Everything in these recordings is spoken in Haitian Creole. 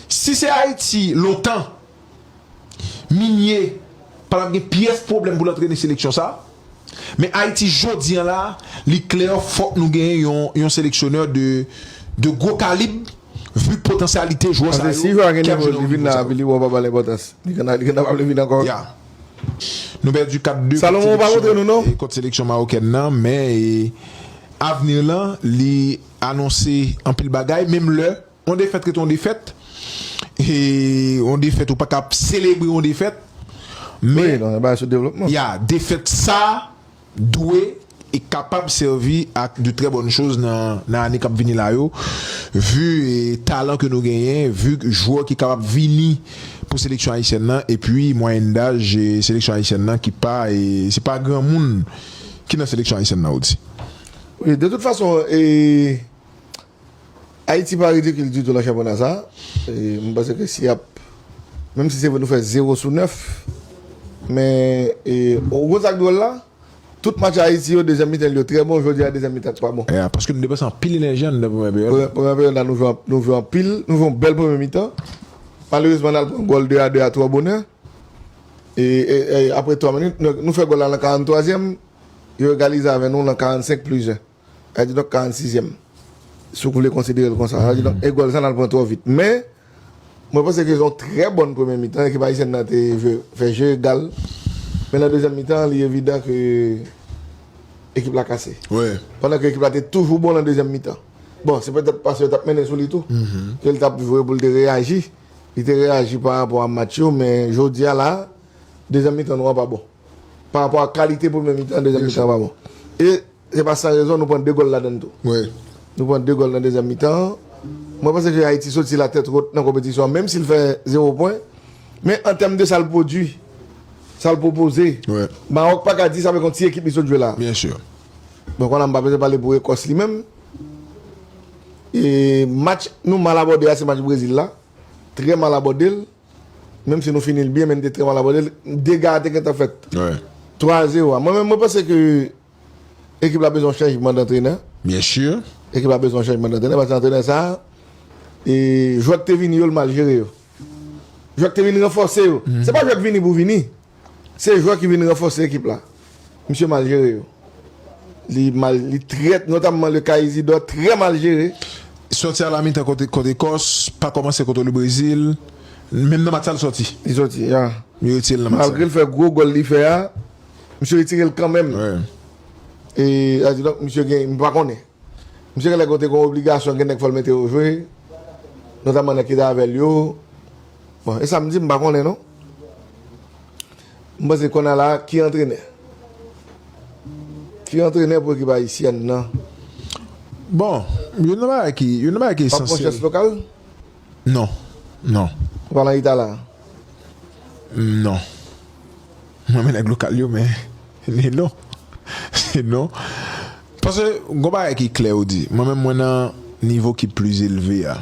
Si se Ayiti lontan Migné pa tap gen pyès pwoblèm pou l antrene seleksyon sa, men Ayiti jodi an la li klè fòk nou gen yon seleksyonè de gwo kalib vu potansyalite jwè sa yo ki ap jwe nan nivo sa yo. Nou pèdi 4 de kont seleksyon mawokèn nan men avni lan li anonse anpil bagay menm lè. Yon defèt rete yon defèt, e yon defèt ou pa ka ap selebre yon defèt, men, ya, defèt sa dwe e kapab sèvi ak de trè bòn choz nan ane kap vini la yo, vu talan ke nou genyen, vu jwè ki kapab vini pou seleksyon ayisyèn nan, epi mwayèn daj seleksyon ayisyèn nan ki pa, se pa granmoun ki nan seleksyon ayisyèn nan ou di. Wi, de tout fason, e Ayiti pa ridikil ditou nan chanpyona sa a. Mwen panse ke si y ap, menm si se vre nou fè zewo sou nèf, men ou konn sa k dwòl la? Tout match Ayiti yo, dezyèm mitan l yo trè bon, jodi a dezyèm mitan l pa bon. Paske nou depanse anpil enèji anndan premyè peryòd la. Premyè peryòd la nou jwe anpil, nou jwe anpil, nou jwe yon bèl premye mitan. Malerezman n al pran gòl de a de a twò bonè. Aprè twa minit, nou fè gòl la nan karantwazyèm, yo egalize avè nou nan karantsenk plis jen. Kadidonk 46 yèm si w vle konsidere l konsa. Kadidonk e gòl sa nan pran twò vit. Men mwen panse ke se yon trè bòn premye mitan ekip ayisyèn nan te jwe fè je egal. Men nan dezyèm mitan an li evidan ke ekip la kase. Pandan ke ekip la te toujou bon nan dezyèm mitan. Bon se petèt paske yo t ap mennen sou li tou ke l t ap jwe pou l te reyaji. Li te reyaji pa rapò a match yo men jodi a la dezyèm mitan nou an pa bon. Pa rapò a kalite premye mitan an dezyèm mitan an pa bon. E. Se pa san rezon nou pran 2 gòl ladann tou. Nou pran 2 gòl nan dezyèm mitan an. Mwen panse ke Ayiti soti la tèt wot nan konpetisyon an, menm si l fè zewo pwen. Men an tèm de sa l pwodui, sa l pwopoze, Mawòk pa ka di sa avèk yon ti ekip li sot jwe la a. Bon, kounya m pa bezwen pale pou Ekòs li menm. E match nou mal abòde a se match Brezil la. Trè mal abòde l. Menm si nou fini l byen men n te trè mal abòde l. Dega a te gentan fèt. 3 a zewo a. Mwen menm mwen panse ke. Ekip la bezwen yon chanjman dantrenè. Bien sûr. Ekip la bezwen yon chanjman dantrenè paske antrenè sa a e jwè ki te vini yo li mal jere yo. Jwè ki te vin ranfòse yo. Se pa jwè ki vini pou vini. Se jwè ki vin ranfòse ekip la. Misye mal jere yo. Li mal, li trè, notamman le ka Isidor trè mal jere. Sòti a la mitan kont kont Ekòs, pa kòmanse kontre le Brezil. Menm nan match sa li sòti. Li sòti, ya. Yo retire l nan match sa. Malgre li fè gwo gòl li fè a, Misye retire l kanmenm. E sa di donk misye gen, m pa konnen. Misye genlè gen te gen yon obligasyon gen nèg fò l mete yo jwe. Notamman nèg ki te avè l yo. Bon, e sa m di m pa konnen non. M panse kounye a la, ki antrenè? Ki antrenè pou ekip ayisyèn nan? Bon, youn nan bagay ki, youn nan bagay ki esansyèl. Pap pran chans lokal? Non. Non. Ou pa marita la? Non. M renmen nèg lokal yo men ni non. Se non. Pase gon bagay ki klè ou di. Mwen menm mwen nan nivo ki pli elve a.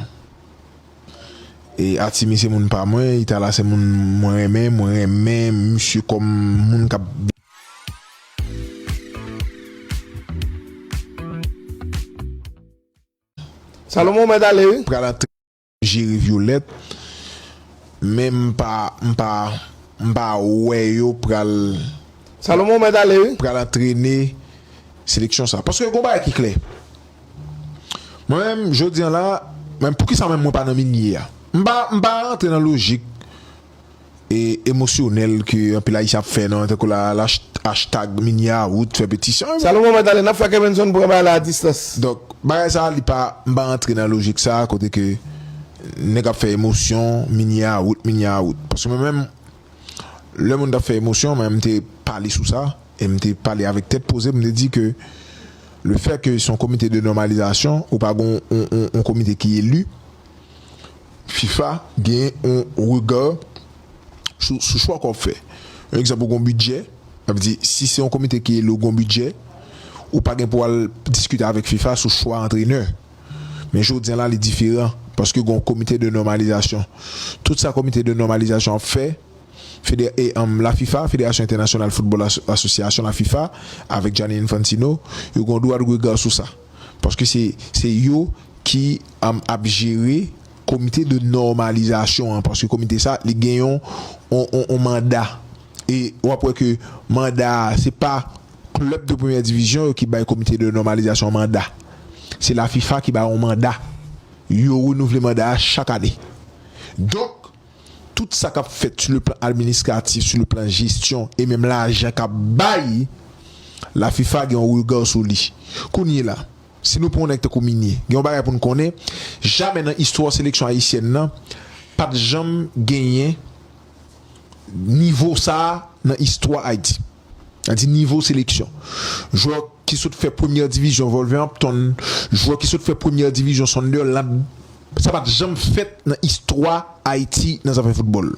E Atimi se moun pa mwen, Itala se moun mwen renmen, mwen renmen misye kòm moun kap. Salomon mèt ale wi. Pral antre nan jere violette men m pa m pa m pa wè yo pral. Salomon mèt ale wi. Pral antrene seleksyon sa paske gon bagay ki klè mwen menm jodi an la men poukisa menm mwen pa nan minie a m pa m pa rantre nan lojik e emosyonèl ke anpil Ayisyen ap fè nan tankou la hashtag Minya Wood fè petisyon e. Salomon mèt ale, n ap fè Kevinson pran bagay la a distans. Donk, bagay sa a li pa, m pa rantre nan lojik sa a kote ke nèg ap fè emosyon Minya Wood, Minya Wood. Paske mwen menm, lè moun t ap fè emosyon, mwen m te pale sou sa e m te pale avèk tèt poze m te di ke le fè ke se yon komite de nòmalizasyon ou pa gen yon komite ki eli, fifa genyen yon regard sou sou chwa ke wap fè yon egzanp ou gen yon bidjè sa vle di si se yon komite ki ele ou gen yon bidjè ou pa gen pou al diskite avèk fifa sou chwa antrenè men jodi an la li diferan paske gen yon komite de nòmalizasyon tout sa komite de nòmalizasyon ap fè fede e anm la fifa federasyon entènasyonal foutbòl asosyasyon la fifa avèk Gianni Infantino yo gen yon dwa de regard sou sa. paske se yo ki ap jere komite de nòmalizasyon an paske komite sa li gen yon manda e w ap wè ke manda se pa klèb de premyè divizyon yo ki bay komite de nòmalizasyon an manda se la fifa ki ba yon manda yo renouvle manda a chak ane donk Tout sa kap fèt su le plan administratif, su le plan jesyon e menm lajan kap bay la fifa gen yon rega sou li. Kounye la, si nou pran yon nèg tankou Migne, gen yon bagay pou nou konnen, jamè nan istwa seleksyon ayisyèn nan pat janm genyen nivo sa nan istwa Ayiti. Sa di nivo seleksyon. Jwè ki sot fè premyè divizyon Wolverhampton, jwè ki sot fè premyè divizyon Sunderland. Sa pa t janm fèt nan istwa Ayiti nan zafè foutbòl.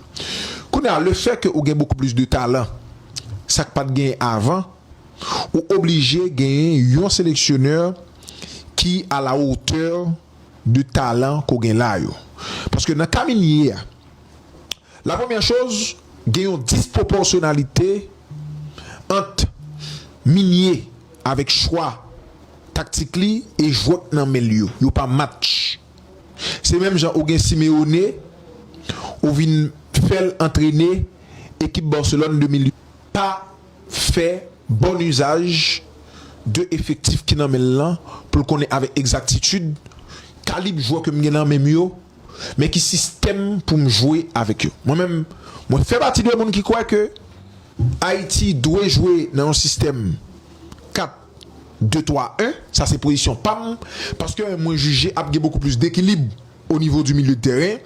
Kounye a, lefè ke ou gen bokou plis de talan, sa k pa t genyen avan, ou oblije genyen yon seleksyonè ki a la hauteur de talan ke w gen la yo. Paske nan ka Migne a. La premyè choz, gen yon disproporsyonalite ant Minye avèk chwa taktik li e jwè k nan men l yo. Yo pa match. Se menm jan ou gen Simeone, ou vin fè l antrene ekip Barcelone 2008. Pa fè bon uzaj de efektif ki nan men l lan pou l konnen avèk egzaktitid kalib jwè ke m gen nan men m yo men ki sistèm pou m jwe avèk yo. Mwen menm, mwen fè pati de moun ki kwè ke Ayiti dwe jwe nan yon sistèm 4, 2, 3, 1, sa se pozisyon pa m, paske mwen jije ap gen bokou plis dekilib o nivo di milye de tèren,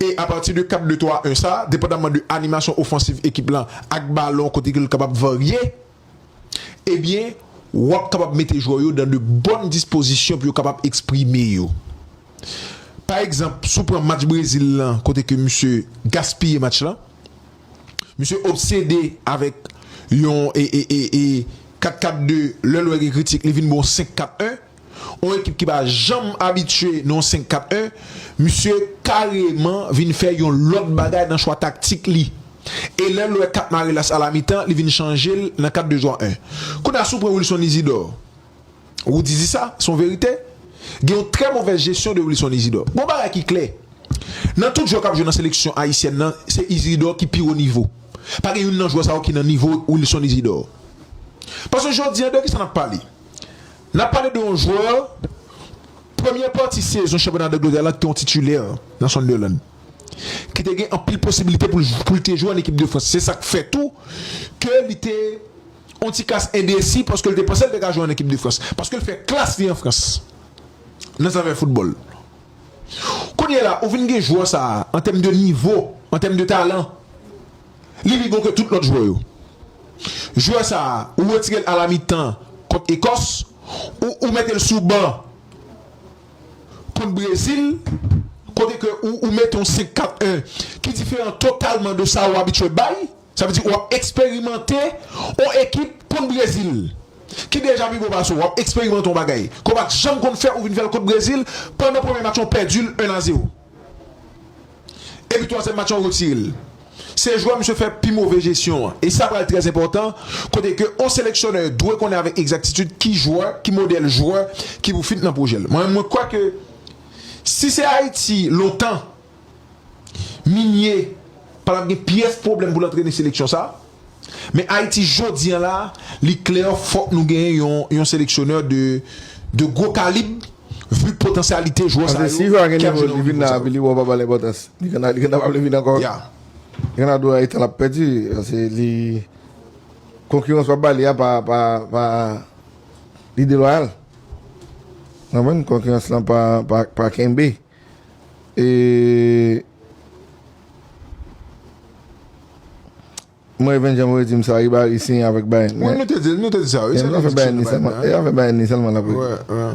e apati de 4, 2, 3, 1 sa, depandamman de animasyon ofansiv ekip lan ak balon kote ke l kapab varye. ebyen w ap kapab mete jwè w yo dan de bòn dispozisyon pou yo kapab eksprime yo. Pa egzanp, si w pran match Brezil lan kote ke misye gaspiye match lan, misye obsede avèk yon e e e 4-4-2, lè l wè gen kritik li vin ba w 5-4-1, yon ekip ki pa janm abitye nan yon 5-4-1, misye kareman vin fè yon lòt bagay nan chwa taktik li. E lè l wè kat mare l a la mitan, li vin chanje l nan 4 2 3 1. Kounye a si w pran Wilson Izidò, Roody di sa, se yon verite, gen yon trè movèz jesyon de Wilson Izidò. Gon bagay ki klè, nan tout jwè k ap jwe nan seleksyon ayisyèn nan, se Izidò ki pi wo nivo. Pa gen youn nan jwè sa yo ki nan nivo Wilson Izidò. Paske jodi an de ki sa n ap pale? N ap pale de yon jwè premyè pati sezon chanpyona Dangletè la ki te yon titilè nan Sunderland, ki te gen anpil posibilite pou l te jwe an ekip de Frans. Se sa k fè tou ke li te yon ti kas endesi paske l te panse l te ka jwe an ekip de Frans, paske l fè klas li an Frans nan zafè foutbòl. Kounyela ou vin gen jwè sa a an tèm de nivo, an tèm de talan. Li pi bon ke tout lòt jwè yo. Jwè sa a, ou retire l a la mitan kont Ekòs, ou ou mete l sou ban kont Brezil, kote ke ou ou mete yon 5 4 1 ki diferan totalman de sa ou abitye bay. Sa vle di ou ap eksperimante yon ekip kont Brezil ki deja pi bon pase w. W ap eksperimante yon bagay ke w pa t janm konn fè, ou vin fè l kont Brezil. Pandan premye match lan, ou pèdi l 1 a 0. Epi twazyèm match lan ou retire l. Se jwè misye fè pi move jesyon an. E sa pral trè enpòtan kote ke yon seleksyonè dwe konnen avèk egzaktitid ki jwè, ki modèl jwè ki pou fit nan pwojè l. Mwen menm mwen kwè ke si se Ayiti lontan Migne pa t ap gen pyès pwoblèm pou l antrene seleksyon sa. Men Ayiti jodi an la, li klè fòk nou genyen yon yon seleksyonè de de gwo kalib vu potansyalite jwè sa yo ki ap jwe nan nivo sa yo. E Mwen even janm wè dim sa Ribari siyen avèk Bayern men Nou te Nou te di sa wi se li ki siyen avèk Bayern nan E avèk Bayern li sèlman lap rete Wè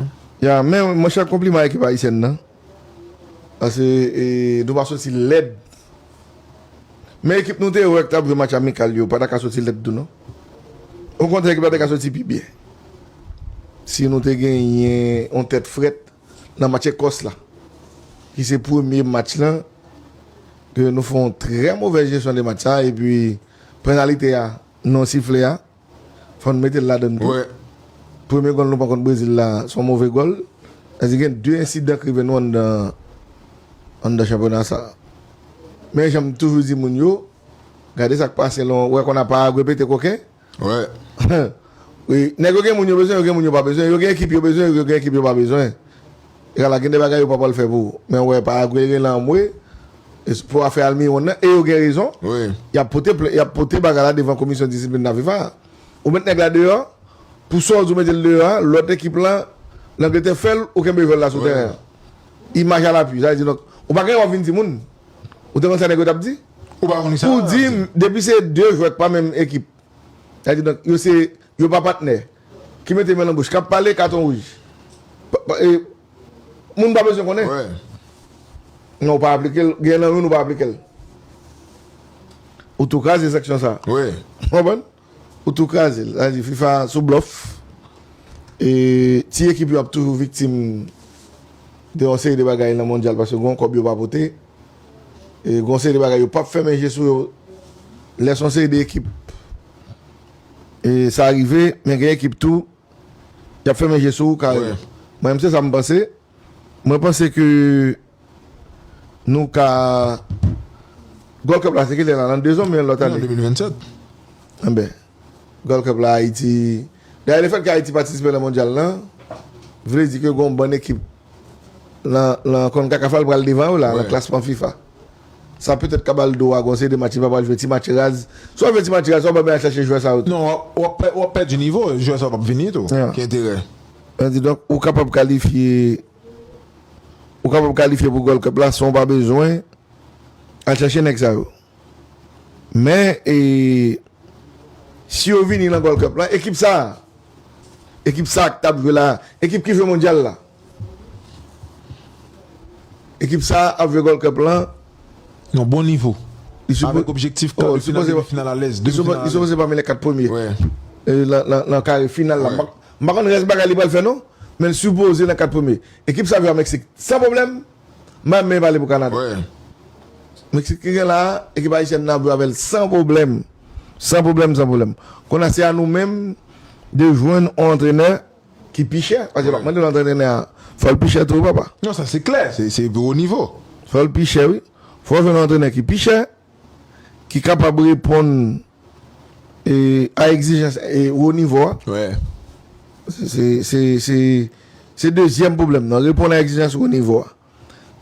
Ya men monchè konpliman ekip ayisyèn nan Pase e nou pa soti lèd Men ekip nou te wè ki tap jwe match amikal yo pata ka soti lèd tou non Okontrè ekip la te ka soti pi byen Si nou te genyen yon tèt frèt Nan match Ekòs la, ki se premye match la, ke nou fè yon trè movè jesyon de match sa, epi penalite a, non sifle a, fò n mete l ladann tou. Premye gòl nou pran kont Brezil la, se yon move gòl. Sa di gen de ensidan k rive nou anndan, anndan chanpyona sa. Men jan m toujou di moun yo, gade sa k pase lan, wè konn apa a repete koken. Wi, nèg yo gen moun yo bezwen, yo gen moun yo pa bezwen, yo gen ekip yo bezwen, yo gen ekip yo pa bezwen. E ala gen de bagay yo pa pwal fè pou ou. Men wè Paraguay gen lan anmwe pou afè Almiron nan e yo gen rezon. Yap pote plen, yap pote bagay la devan komisyon disiplin nan fifa a. Ou met nèg la deyò, pou sa ou di ou metel deyò a, lòt ekip lan Langletè fèl, ou kenbe jwèl la sou tèren an. Imaj a lapui, sa vle di donk ou pa gen wap vin di moun. Ou te konn sa nèg yo tap di? Ou di m depi se 2 jwè k pa menm ekip, sa vle di donk yo se yo pa patnè ki mete men nan bouch k ap pale katon wouj. Moun pa bezwen konnen. Non ou pa aplike l, gen nan youn ou pa aplike l. Ou tou kraze sanksyon sa a. Ou konprann? Ou tou kraze l. Sa vle di fifa sou blòf e ti ekip yo ap toujou viktim de yon seri de bagay nan mondyal paske gen yon kòb yo pa pote e gen yon seri de bagay yo pap fèmen je sou yo lè son seri de ekip e sa rive men gen ekip tou yap fèmen je sou ou kareman mwen menm se sa m panse. Mwen panse ke nou ka Gold Cup la se kilè la? Nan 2 zan oubyen lòt ane? Nan 2027. Enben, Gold Cup la Ayiti, dayè lefèt ke Ayiti patisipe nan Mondyal la, vle di ke gon bann ekip nan nan Concacaf la li pral devan yo la nan klasman fifa. Sa petèt ka bal dwa gon seri de match li pa pral jwe ti match raz. Si wap jwe ti match raz sa ou pa bezwen al chache jwè sa yo tou. Non, wap pèdi nivo, jwè sa yo pap vini tou ki enterè. Mwen di donk ou kapab kalifye ou kapab kalifye pou Gold Cup la san w pa bezwen al chache nèg sa yo. Men e si yo vini nan Gold Cup la ekip sa a ekip sa a k t ap jwe la ekip ki jwe mondyal la ekip sa a ap jwe Gold Cup la yon bon nivo avèk objektif kar de final demi final alèz. Li sipoze pami lè 4 premye nan kare final la. M pa konn rès bagay li pral fè non, men l sipoze nan 4 premye. Ekip sa jwe a Meksik san pwoblèm, Mbappe pale pou Kanada. Meksik ki gen la a, ekip ayisyèn nan ap jwe avè l san pwoblèm. San pwoblèm, san pwoblèm. Kounye a se a nou menm de jwenn on antrenè ki pi chè. Paske yo pa mande l antrenè a, fò l pi chè tou wi papa. Non sa se klè, se pi wo nivo. Fò l pi chè wi. Fò w jwenn on antrenè ki pi chè. ki kapab reponn a egzijans wo nivo a. Se dezyèm pwoblèm nan, reponn a egzijans wo nivo a.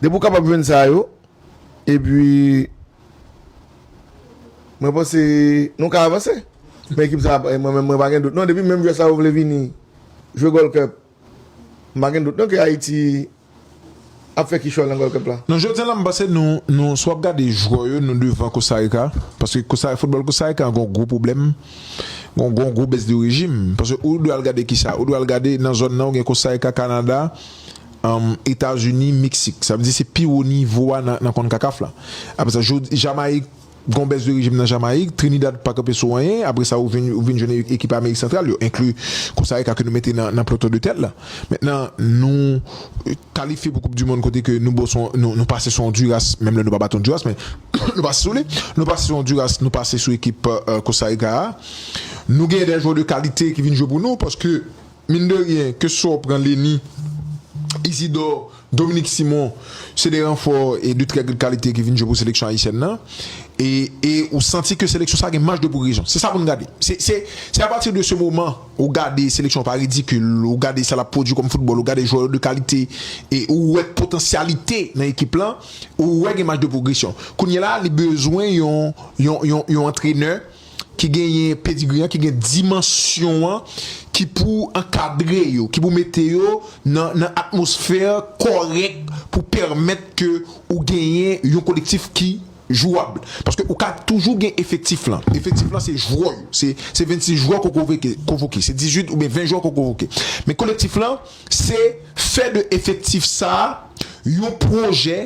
Depi ou kapab jwenn sa yo, epi mwen panse nou ka avanse. Mwen ekip sa, mwen menm mwen pa gen dout non, depi menm jwè sa yo vle vini jwe Gold Cup. M pa gen dout non ke Ayiti ap fè kichòy nan Gold Cup la. Non jodi an la m panse nou nou si w ap gade jwè yo nou devan Kostarika paske Kosta foutbòl Kostarika an gen yon gwo pwoblèm gen yon gen yon gwo bès de rejim paske ou dwe al gade kisa ou dwe al gade nan zòn nan ou gen Kostarika Kanada Etazini Meksik sa vle di se pi wo nivo a nan nan Concacaf la aprè sa jodi Jamayik Gon bès de rejim nan Jamayik, Trinidad pa kanpe sou anyen, apre sa ou vin ou vin jwenn ekip Amerik Santral yo enkli Kosta Rika ke nou mete nan nan ploton de tèt la. Mentnan nou kalifye pou koup du mond kote ke nou bo sou nou nou pase sou Onduras, menm lè nou pa bat Onduras men nou pase sou li, nou pase sou Onduras, nou pase sou ekip Kosta Rika a. Nou genyen dè jwè de kalite ki vin jwe pou nou paske. Min de ryen, ke swa w pran Leni, Izidò, Dominik Simon, se de ranfò de trè gad kalite ki vin jwe pou seleksyon ayisyèn nan. E ou santi ke seleksyon sa gen maj de pwogresyon. Se sa pou n gade. Se apati de se moman ou gade seleksyon an pa ridikil, ou gade sa l ap pwodui kòm foutbòl, ou gade jwè yo de kalite, e ou wè potansyalite nan ekip lan, ou wè gen maj de pwogresyon. Kounyela a li bezwen yon antrenè. ki genyen pedigri an, ki gen dimansyon an, ki pou ankadre yo, ki pou mete yo nan atmosfè kòrèk pou pèmèt ke ou genyen yon kolektif ki jwab. Paske ou ka toujou gen efektif lan. Efektif lan se jwè yo. Se 26 jwè ke w konvoke. Se 18 oubyen 20 jwè ke w konvoke. Men kolektif lan. se fè de efektif sa a yon pwojè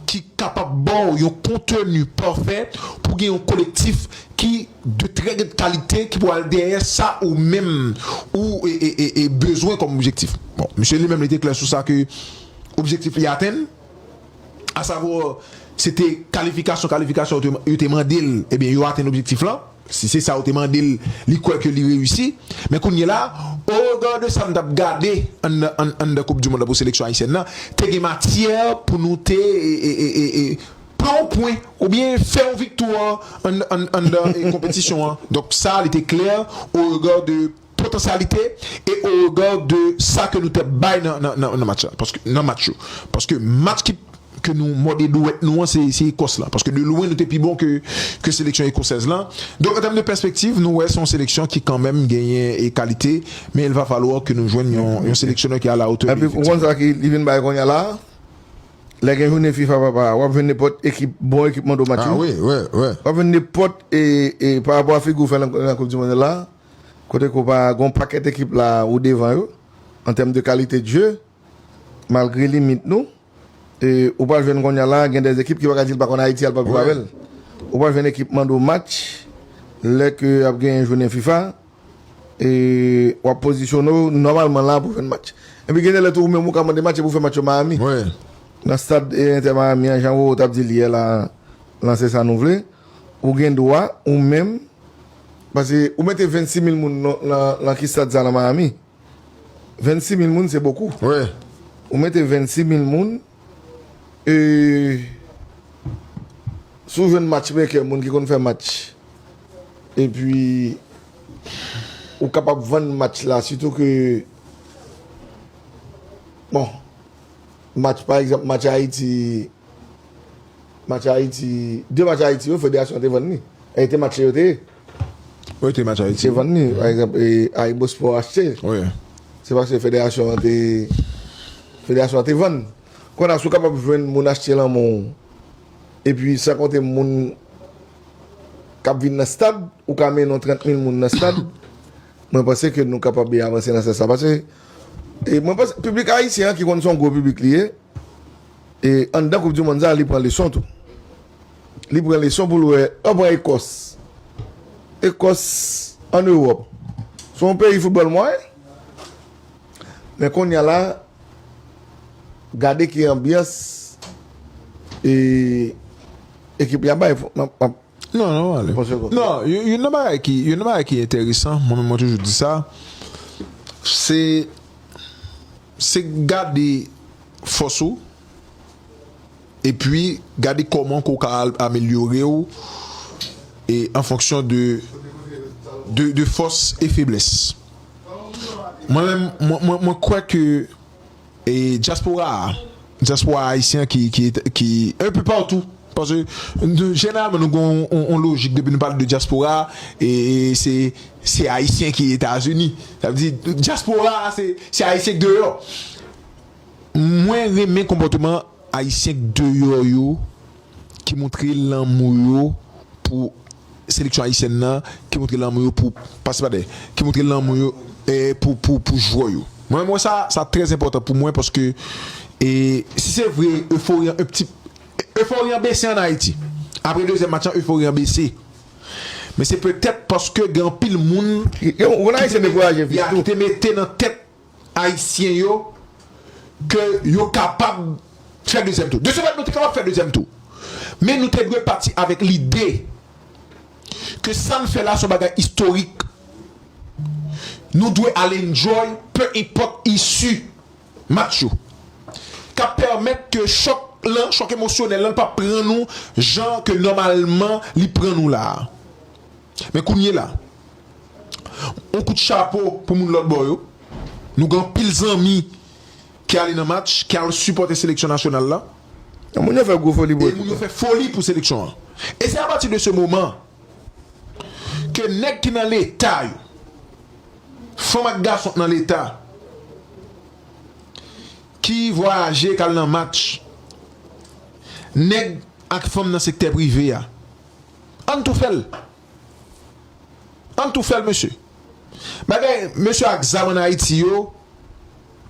ki kapab ba w yon konteni pafè pou w gen yon kolektif ki de trè gèd kalite ki pou al dèyè sa ou menm ou bezwen kòm objektif. Bon, misye li menm li te klè sou sa ke objektif li atenn, asavwa se te kalifikasyon kalifikasyon yo te mande l, ebyen yo atenn objektif lan. Si se sa ou te mande l, li kwè ke li reyisi. Men kounye la, o rega de sa m t ap gade anndan koup du mond la pou seleksyon ayisyèn nan, te gen matyè pou nou te pran yon pwen oubyen fè yon viktwa anndan konpetisyon an. Donk sa li te klè o rega de. potansyalite e o rega de sa ke nou te bay nan match la, paske nan match yo, paske match ki ke nou mòde dwèt nou an se Ekòs la, paske de lwen nou te pi bon ke seleksyon ekosèz la, donk an tèm de pèspektiv nou wè se yon seleksyon ki kanmenm genyen e kalite, men il va falloir ke nou jwenn yon seleksyonè ki a la hauteur de efektif yo. Epi ou konn sa ki li vin bay konnya la a? Lè gen jounen fifa papa a, wap jwenn nenpòt ekip bon ekip Mondo Matthew, wap jwenn nenpòt e pa rapò a figi ou fè nan koup di mond la a, Kote ke w pa gen yon pakèt ekip la a, ou devan yo an tèm de kalite de jeu malgre limit nou. E ou pral jwenn kounye a la gen de ekip ki pa ka di l pa konn Ayiti al pa jwe avè l. Ou pral jwenn ekip mande w match lè ke ap genyen jounen fifa e w ap pozisyone w nòmalman la pou w jwenn match. Epi gen de lè tou ou menm ou ka mande match epi w fè match yo Miami nan stad Inter Miami an jan Roro t ap di l yè la a lan se sa nou vle. Ou gen dwa ou menm pase ou mete 26 mil moun lan ki stad sa lan Miami 26 mil moun se bokou ou mete 26 mil moun e si ou jwenn match mekè moun ki konn fè match e pi ou kapab vann match la si tou ke bon match pa egzanp match Haiti. Match Ayiti, 2 match Ayiti yo federasyon an te vann li. E te match yo te ye. Wi te match Ayiti. Te vann li, pa egzanp e Ayibospò achte l. Wi. Se paske federasyon an te, federasyon an te vann. Konn a si w kapab jwenn moun achte lan men w, epi san konte moun k ap vin nan stad, ou ka mennen yon 30 mil moun nan stad, mwen panse ke nou kapab avanse nan sans sa. Pase, e mwen panse piblik ayisyen an ki konn se yon gwo piblik li ye, E anndan koup du mond sa li pran leson tou. Li pran leson poul wè, an pran Ekòs. Ekòs an Ewòp se yon peyi foutbòl mwayen. Men konnya la gade ki anbyans e ekip la bay. Non, non, ale. Pòsè kòb. Non, youn nan bagay ki, youn nan bagay ki enteresan, mwen menm mwen toujou di sa, se, se gade fòs ou, epi gade kòman ke w ka al amelyore w e an fonksyon de, de, de fòs e feblès. Mwen menm, mwen, mwen, mwen kwè ke. E dyaspora a, dyaspora ayisyen an ki un peu partout, paske jeneralman nou gen yon lojik depi nou pale de dyaspora e se se ayisyen ki etazini, sa vle di dyaspora a se ayisyen k deyò. Mwen renmen konpòteman ayisyen k deyò yo. ki moutre lanmou yo pou seleksyon ayisyèn nan, ki moutre lanmou yo pou pase pa dèyè, ki moutre lanmou yo pou jwè yo. Mwen menm wè sa, sa trè enpòtan pou mwen paske si se vre efori an pti, efori an bese an Ayiti. Apre dezyèm match lan efori an bese. Men se petèt paske gen anpil moun ki te mete nan tèt Ayisyen yo ke yo kapab fè dezyèm tou. De ce fait, nou te kapab fè dezyèm tou. Men nou te dwe pati avèk lide ke sa n fè la se yon bagay istorik. Nou dwe al enjoy peu enpòt issue match yo. Ka pèmèt ke chòk lan, chòk emosyonèl lan pa pran nou jan ke nòmalman li pran nou la a. Men kounyela, yon kout chapo pou moun lòt bò yo. Nou gen anpil zanmi ki ale nan match, ki al sipòte seleksyon nasyonal la. E moun yo fè gwo foli pou ekip la. E moun yo fè foli pou seleksyon an. E se apati de se moman ke nèg ki nan Leta yo, fanm ak gason ki nan Leta, ki vwayaje, ki al nan match, nèg ak fanm nan sektè prive a, Ann tou fèl Ann tou fèl mesye Bagay mesye ak zam an ayiti yo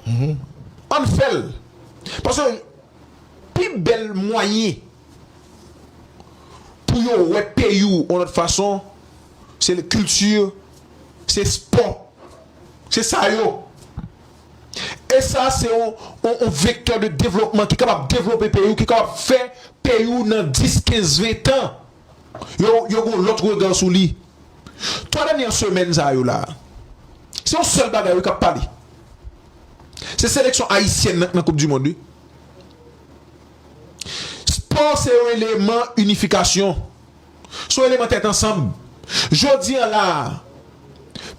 Ann fèl Paske pi bèl mwayen Pou yo wè peyi w yon lòt fason Se kilti Se spò Se sa yo E sa a se yon vektè de devlopman ki kapab devlope peyi ou, ki kapab fè peyi ou nan 10, 15, 20 tan, yo gen yon lòt rega sou li. 3 dènyè semèn sa yo la a, se yon sèl bagay wi k ap pale. Se seleksyon ayisyèn nan k nan koup di mond wi. Spò se yon eleman inifikasyon. sou eleman tèt ansanm. Jodi an la a,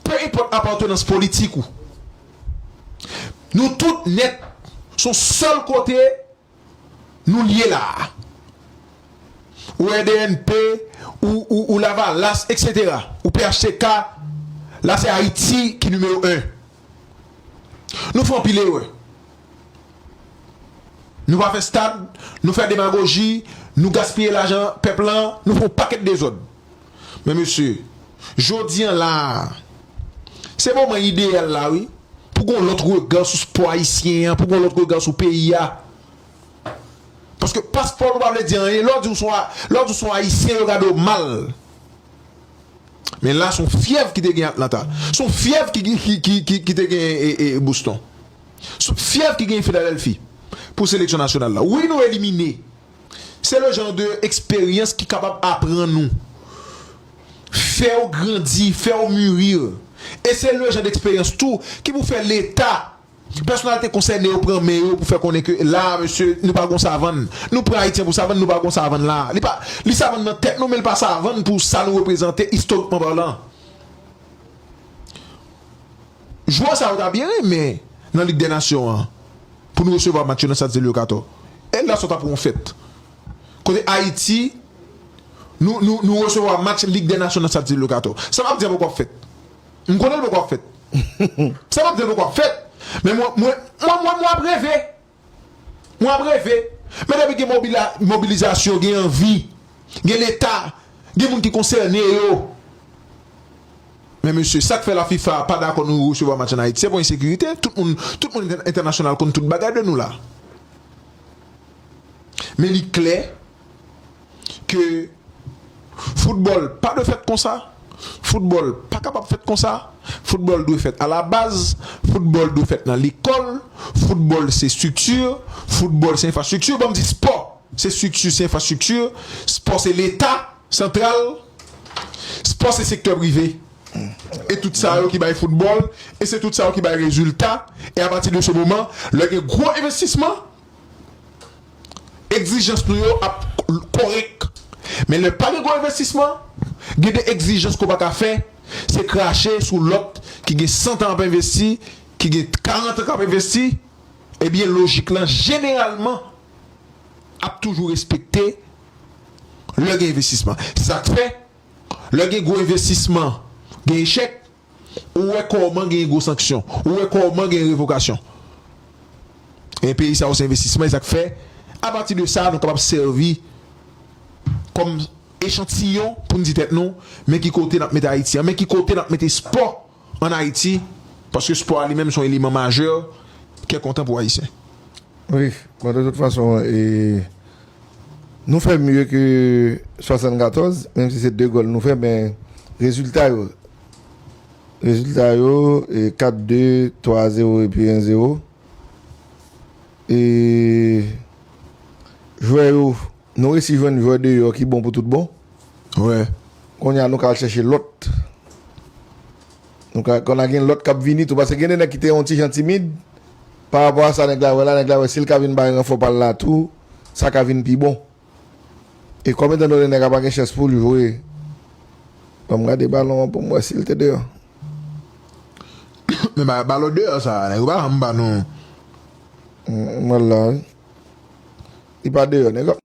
pe enpòt apatenans politik ou, nou tout nèt s on sèl kote nou lye la a. Ou RDNP, ou Lavalas, eksetera, ou phtk, la se Ayiti ki nimewo 1. Nou fè anpil erè. Nou pa fè stad, nou fè demagoji, nou gaspiye lajan pèp lan, nou fè yon pakèt dezòd. Men mesye, jodi an la a, se moman ideyal la wi, pou gen yon lòt rega sou spò ayisyen an, pou gen yon lòt rega sou peyi a. Paske paspò nou pa vle di anyen, lè w di w son, lè w di w son ayisyen yo gade w mal. Men la son fyèv ki te gen Atlanta, son fyèv ki te gen Boston. Sou fyèv ki genyen Philadelphie pou seleksyon nasyonal la. Wi nou elimine. Se le jan de eksperyans ki kapab aprann ou. Fè ou grandi, fè ou murir. E se le jan de eksperyans tou ki pou fè leta, pèsonalite konsène yo pran men yo pou fè konnen ke la a mesye nou pa gon savann. Nou pran Ayityen pou savann, nou pa gon savann la a. Li pa, li savann nan tèt nou men li pa savann pou sa nou reprezante istorikman palan. Jwè sa yo ta byen renmen nan lig dè nasyon an pou nou resevwa match yo nan stad Celio Cator e la sa ta pou yon fèt kote Ayiti nou nou nou resevwa match lig dè nasyon nan stad Celio Cator sa map di a poko ap fèt m konnen l poko ap fèt sa map di a poko ap fèt men mwen mwen mwen mwen ap reve. Mwen ap reve, men depi gen mobilizasyon, gen anvi, gen leta, gen moun ki konsène yo. Men mesye, sak fè la fifa pa dakò nou resevwa match an Ayiti, se pou ensekirite, tout moun, tout moun entènasyonal konn tout bagay de nou la. Men li klè. ke foutbòl pa dwe fèt konsa, foutbòl pa kapab fèt konsa, foutbòl dwe fèt alabaz, foutbòl dwe fèt nan lekòl, foutbòl se estrikti, foutbòl se enfrastrikti, banm di spò se estrikti, se enfrastrikti, spò se leta santral, spò se sektè prive, e tout sa yo ki bay foutbòl, e se tout sa yo ki bay rezilta, e apati de se moman lè gen gwo envestisman. Egzijans nou yo ap kòrèk men lè pa gen gwo envestisman gen de egzijans ke w pa ka fè se krache sou lòt ki gen santan ap envesti ki gen karantan k ap envesti ebyen lojik lan jeneralman ap toujou respekte lè gen envestisman se sa k fè lè gen gwo envestisman gen echèk. Ou wè kòman gen gwo sanksyon. Ou wè kòman gen revokasyon. E peyi sa yo se envestisman. E sa k fè, apati de sa, nou kapab sèvi kòm echantiyon pou n di tèt nou, men ki kote n ap mete Ayiti an. Men ki kote n ap mete espò ann Ayiti. Paske espò a li menm se yon eleman majè, kè kontan pou Ayisyen. Wi, bon de tout fason e nou fè mye ke 74, menm si se 2 gòl nou fè men rezilta yo, rezilta yo e 4, 2, 3 a 0 e pi 1, 0 e jwè yo nou resi jwenn jwè deyò ki bon pou tout bon. Wè, kounye a nou ka al chèche lòt. Nou ka konn a gen lòt k ap vini tou paske gen de nèg ki te yon ti jan timid parapò a sa nèg la wè la, nèg la wè si l ka vin bay ranfò pa l la tou sa ka vin pi bon e kòm etandone nèg a pa gen chans pou l jwe ban m gade balon an pou m wè si l te deyò. Men bagay balon deyò sa a nèg yo pa janm ban nou. M wè l la wi Li pa deyò nèg yo ap.